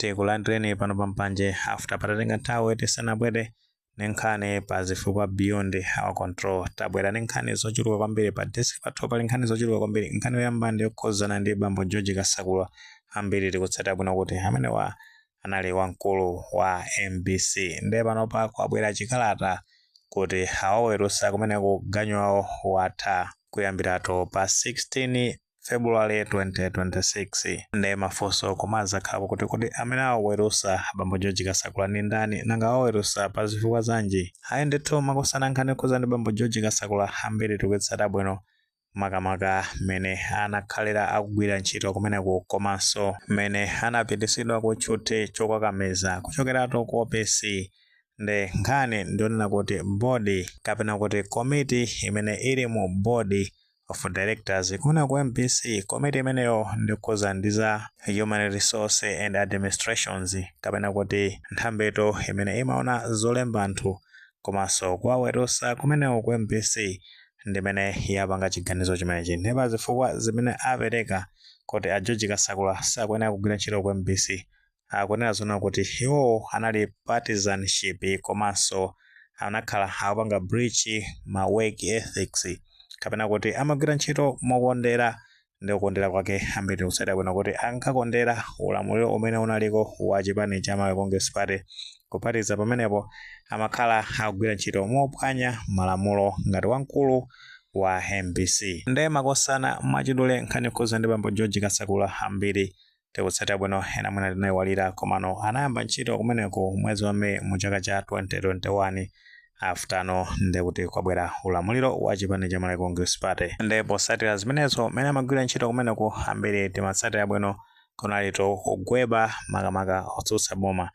tikulandireni pano pa mpanje after patatenga nthawi tisanabwere ndi nkhani pa zifukwa beyond our control tabwera ndi nkhani zochuluka kwambiri pa desk pathu pali nkhani zochuluka kwambiri nkhani yoyamba ndi yokhuzana ndi bambo george kasakula ambiri tikutsata bwino kuti amenewa anali wamkulu wa mbc ndiye panopa kwabwera chikalata kuti awawerusa kumeneko ganyu yawo yatha kuyambiratu pa 16 February 2026 nde mafunso kumadzakhalapo kuti kodi amene awawerusa abambo George Kasakula ndi ndani nanga awawerusa pa zifukwa zanji ayi ndithu makosana nkhani yokhudza ndi bambo George Kasakula ambiri tikuitsata bwino makamaka mmene anakhalira akugwira ntchito kumeneku komanso mmene anapitisidwa ku tchuthi chokakamiza kuchokeratu ku OPC nde nkhani ndionena kuti bodi kapena kuti komiti imene ili mu bodi of Directors kuja ku MBC komiti imeneyo yokhudza ndi za Human Resource and Administrations kapena kuti nthambitu imene imaona zolemba anthu komanso kuwawerusa kumeneko ku MBC ndimene yapanga chiganizo chimenechi ndipo zifukwa zimene apereka kuti a George Kasakula sakuyenera kugwira ntchito ku MBC akunena zonena kuti iwowo anali partisanship komanso anakhala akupanga breach ma work ethics kapena kuti amagwira ntchito mokondera ndi kukondera kwake ambiri tikutsata bwino kuti ankakondera ulamuliro umene unaliko wa chipani cha Malawi Congress Party kuphatikiza pamenepo amakhala akugwira ntchito mophwanya malamulo ngati wamkulu wa MBC nde makosana mwachidule nkhani yokhudza ndi bambo George Kasakula ambiri Tikutsata bwino ena mwina tinaiwalira komano anayamba ntchito kumeneku mwezi wa May mu chaka cha 2021 after nde kuti kwabwera ulamuliro wa chipani cha Malawi Congress Party nde posatira zimenezo mene amagwira ntchito kumeneku ambiri timatsata bwino kunalitu kugweba makamaka otsutsa boma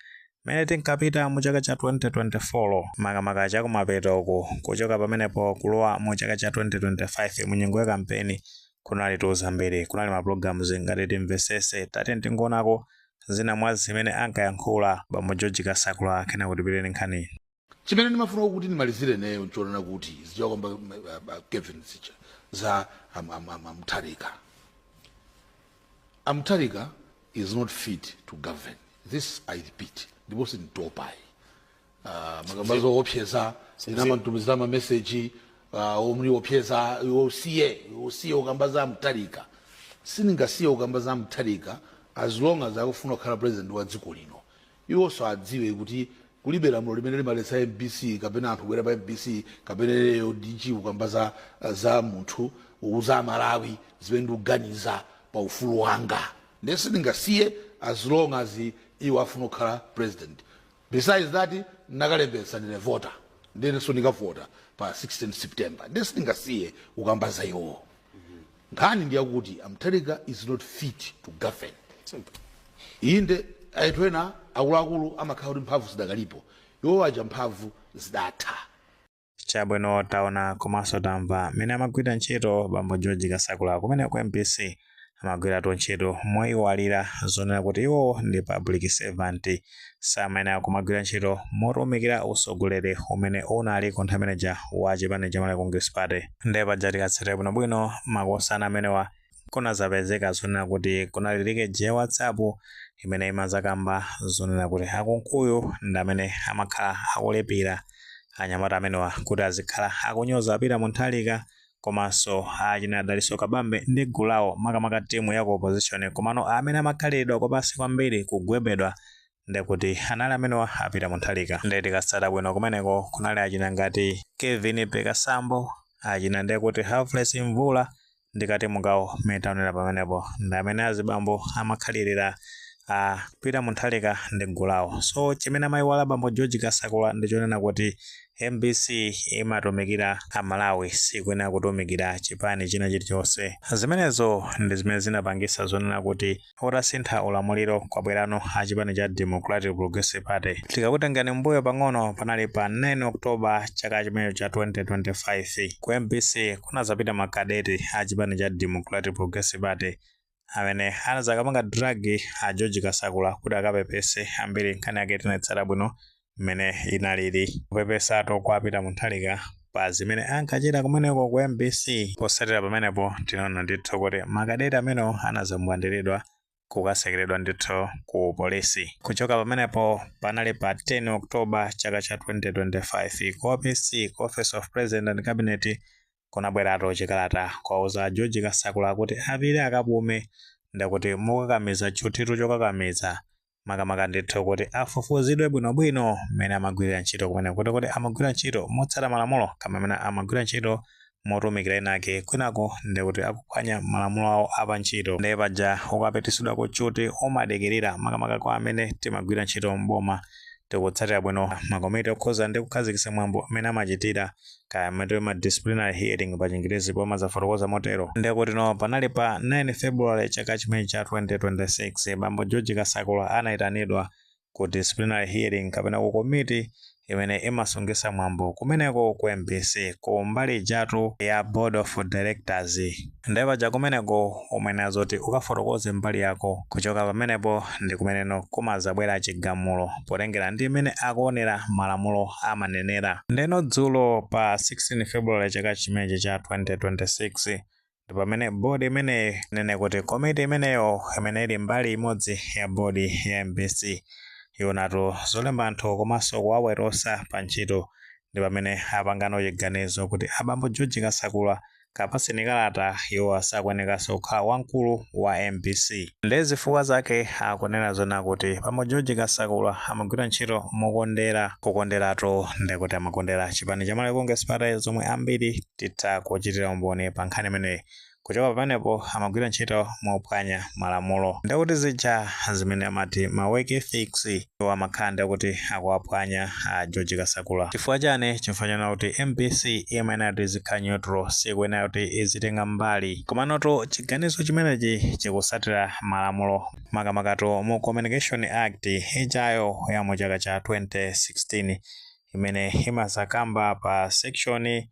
mene tinkapita mu chaka cha 2024 makamaka chakumapeto uku kuchoka pamenepo kulowa mu chaka cha 2025 mu nyengo ya kampeni kunali tu zambiri kunali ma programs ngati timvesese tatiyeni tingonako zina mwa zimene ankayankhula bambo george kasakula kenako tipite ni nkhani chimene ndimafuna kuti ndimalizire ineyo nchonena kuti zichakamba kevin zicha za am- am- am- amutharika amutharika is not fit to govern this i repeat ndipo sinditopayi Ah, makamba zoopseza kumatumiza mameseji ah, omuopseza iwe usiye iwe usiye kukamba za Mutharika sindingasiye kukamba za Mutharika as long as akufuna kukhala president wa dziko lino iwonso adziwe kuti kulibe lamulo limene limaletsa mbc kapena anthu kubwera pa mbc kapena leyo dg kukamba za, za munthu kuuza Amalawi zimene ndikuganiza pa ufulu wanga ndiye sindingasiye as long as iwo afuna kukhala president besides that nakalembetsa ndine voter ndinenso ndikavota pa 16 september ndiye sindingasiye kukamba za iwowo nkhani ndiyakuti a Mutharika is not fit to govern Simple. inde anthu ena akuluakulu amakhala kuti mphamvu zidakalipo iwo aja mphamvu zidatha Chabwino taona komanso tamva mmene amagwirira ntchito bambo George Kasakula kumene ku MBC amagwiratu ntchito moyiwalira zonena kuti iwowo ndi public servant samayenera kumagwira ntchito motumikira utsogoleri umene unali ku nthawi imeneja wa chipani cha Malawi Congress Party. Ndiye paja tikatsatira bwinobwino makosana amenewa kunazapezeka zonena kuti kunali likeji ya WhatsApp imene imazakamba zonena kuti a Kunkuyu ndamene amakhala akulipira anyamata amenewa kuti azikhala akunyoza a Peter Mutharika komanso achina Dalitso Kabambe ndi gulu lawo makamaka timu ya ku opposition komano amene amakhaliridwa kwapansi kwambiri kugwebedwa ndikuti anali amenewa a Peter Mutharika nde tikatsata bwino kumeneko kunali achina ngati Kevin Pekasambo achina ndekuti Humphreys Mvula ndikati mugawo mmene taonera pamenepo ndi amene azibambo amakhalirira a Peter Mutharika ndi gulu lawo so chimene amayiwala bambo George Kasakula ndi chonena kuti MBC imatumikira Amalawi sikuyenera kutumikira chipani china chilichonse zimenezo ndi zimene zinapangitsa zonena kuti Utasintha ulamuliro kwabwerano a chipani cha Democratic Progressive Party. Tikakutengani mmbuyo pang'ono panali pa 9 October chaka chimenecho cha 2025. Ku mbc kunazapita ma cadet a chipani cha Democratic Progressive Party amene anazakapanga drag a George Kasakula kuti akapepese. Ambiri nkhani yake tinaitsata bwino mmene inalili kupepesatu kwa a Peter Mutharika pa zimene ankachita kumeneko ku mbc potsatira pamenepo tinaona ndithu kuti makadeti amenewo anazambwandiridwa kukatsekeredwa ndithu ku polisi kuchoka pamenepo panali pa 10 october chaka cha 2025 ku opc ku office of president and cabinet kunabweratu chikalata kuwauza a george kasakula kuti apite akapume ndakuti mokakamiza tchuthitu chokakamiza makamaka ndithu kuti afufuzidwe bwinobwino mmene amagwirira ntchito kumeneko ndi kuti amagwira ntchito motsata malamulo kaya mmene amagwira ntchito motumikira ena ake kwinaku ndi kuti akuphwanya malamulo awo a pa ntchito ndiye paja ukapitisidwa ku tchuthi umadikirira makamaka kwa amene timagwira ntchito mboma tikutsatira bwino makomiti okhuza ndi kukhazikitsa mwambo mmene amachitira kaya amati ma disciplinary hearing pa chingerezi pomwe zafotokoza motero ndekuti no panali pa 9 february chaka chimenechi cha 2026 bambo george kasakula anayitanidwa ku disciplinary hearing kapena ku komiti imene imasungisa mwambo kumeneko ku mbc ku mbali ijatu ya board of directors Nde paja kumeneko umayenera zoti ukafotokoze mbali yako kuchoka pamenepo ndi pameneno kumazabwera chigamulo potengera ndi mmene akuonera malamulo amanenera. Ndeno dzulo pa 16 February chaka chimenechi cha 2026 ndi pamene board imeneyi inene kuti komiti imeneyo imene ili mbali imodzi ya board ya mbc yoonatu zolemba anthu komanso kuwaweruza pa ntchito ndi pamene apangano chiganizo kuti abambo George Kasakula apatsidwe kalata iwo sakuyenekanso kukhala wamkulu wa mbc nde zifukwa zake akunena zonena kuti bambo george kasakula amagwira ntchito mokondera kukonderatu ndekuti amakondera chipani cha malawi congress party zomwe ambiri titha kuchitira umboni pa nkhani imeneyi kuchoka pamenepo amagwira ntchito mophwanya malamulo ndekuti zija zimene amati ma work ethics iwo amakhala ndekuti akuwaphwanya a George Kasakula chifukwa chani chifukwa chonena kuti mbc imayenera kuti izikhala neutral sikuyenera kuti izitenga mbali komanotu chiganizo chimenechi chikusatira malamulo makamakatu mu communication act ijayo ya mu chaka cha 2016 imene imazakamba pa section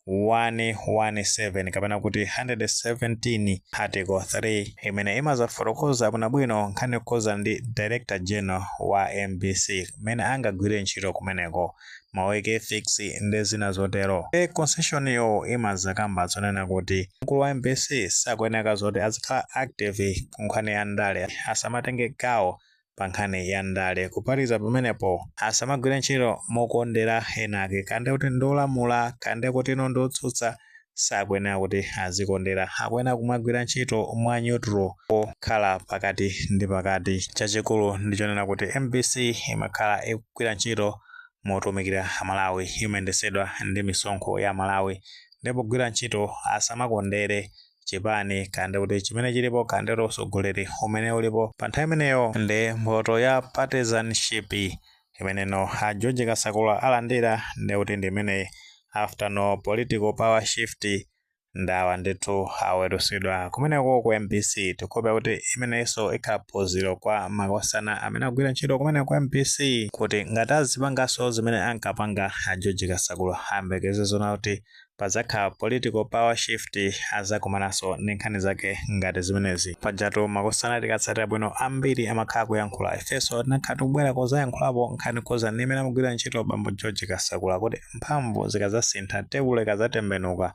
117 kapena kuti 117 article 3 imene imazafotokoza bwinobwino nkhani yokhudzana ndi director general wa mbc mmene angagwire ntchito kumeneko ma work ethics ndi zina zotero e section yo imazakamba zonena kuti mkulu wa mbc sakuyeneka zoti azikhala active ku nkhani ya ndale asamatenge gawo pa nkhani ya ndale. Kuphatikiza pamenepo, asamagwire ntchito mokondera enaake, kaya ndi kuti ndi olamula, kaya ndi kutino ndi otsutsa, sakuyenera kuti azikondera. Akuyenera kumagwira ntchito mwa neutral, pokhala pakati ndi pakati. Chachikulu ndi chonena kuti mbc imakhala ikugwira ntchito motumikira Amalawi, imayendesedwa ndi misonkho ya Amalawi, nde pogwira ntchito asamakondere, chipani kaya ndikuti chimene chilipo kaya ndikuti usogoleri umene ulipo pa nthawi imeneyo ndi mphoto ya partisanship imene no a george kasakula alandira ndikuti ndi imeneyi after no political power shift ndawa ndithu awerusidwa kumeneko ku mbc tikuhope kuti imeneyinso ikhala phunziro kwa makosana amene agwira ntchito kumene ku mbc kuti ngati azipanganso zimene ankapanga a george kasakula ayembekeze zonena kuti padzakhala political power shift azakumanaso ndi nkhani zake ngati zimenezi pajatu makosana tikatsatira bwino ambiri amakhala akuyankhula ifeso tinakhala tikubwera kuzayankhulapo nkhani yokhuza ndi mmene amagwirira ntchito bambo george kasakula kuti mphamvu zikazasintha tebulo ikazatembenuka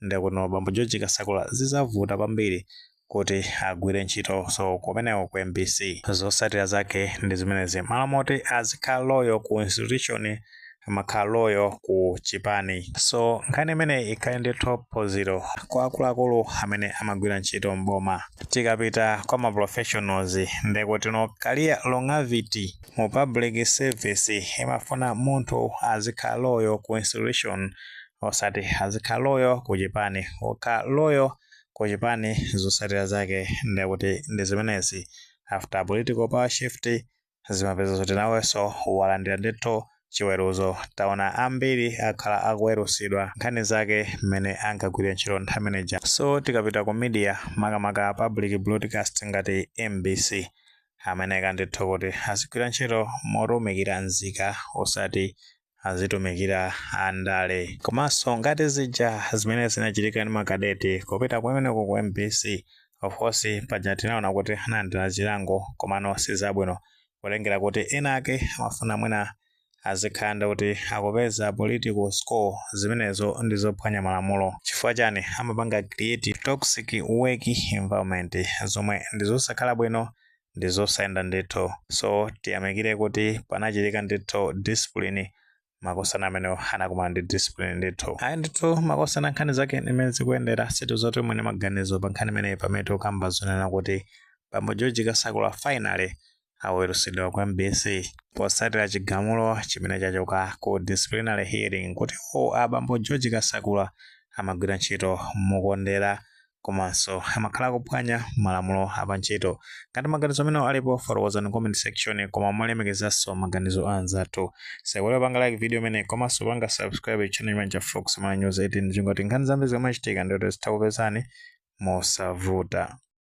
ndekuti no bambo george kasakula zizavuta kwambiri kuti agwire ntchito so kumeneko ku mbc zosatira zake ndi zimenezi mmalo moti azikhala loyal ku institution amakhala loyal ku chipani so nkhani imeneyi ikhale ndithu phunziro kwa akuluakulu amene amagwira ntchito mboma tikapita kwa ma professionals ndekuti no career longevity mu public service imafuna munthu azikhala loyal ku institution osati azikhala loyal ku chipani okhala loyal ku chipani zosatira zake nde kuti ndi zimenezi after political power shift zimapeza zoti naweso walandira ndithu chiweruzo taona ambiri akhala akuwerusidwa nkhani zake mmene ankagwirira ntchito nthawi imene ija so tikapita ku media makamaka public broadcast ngati mbc amayeneka ndithu kuti azigwira ntchito motumikira nzika osati azitumikira andale komanso ngati zija zimene zinachitika ndi makadeti kupita kumeneko ku mbc of course paja tinaona kuti analandira chilango komano sizabwino kutengera kuti ena ake amafuna mwina azikhala ndi kuti akupeza political score zimenezo ndi zophwanya malamulo chifukwa chani amapanga create toxic work environment zomwe ndi zosakhala bwino ndi zosayenda ndithu so tiyamikire kuti panachitika ndithu discipline makosana amenewo anakumana ndi discipline ndithu ayi ndithu makosana nkhani zake ndi mmene zikuyendera situ zoti mwene maganizo pa nkhani imeneyi pamene tikukamba zonena kuti bambo george kasakula finally awerusidwa ku mbc posatira chigamulo chimene chachoka ku disciplinary hearing kuti o abambo george kasakula amagwira ntchito mokondera komanso amakhala akuphwanya malamulo apantchito. Ngati maganizo amenewo alipo, fotokozani m'comment section koma molemekezanso maganizo a anzathu. Musaiwale kupanga like video imeneyi komanso kupanga subscribe channel chimenechi cha Fox Malawi News 18 kuti ngati nkhani zambiri zikamachitika ndiye kuti zitha kukupezani mosavuta.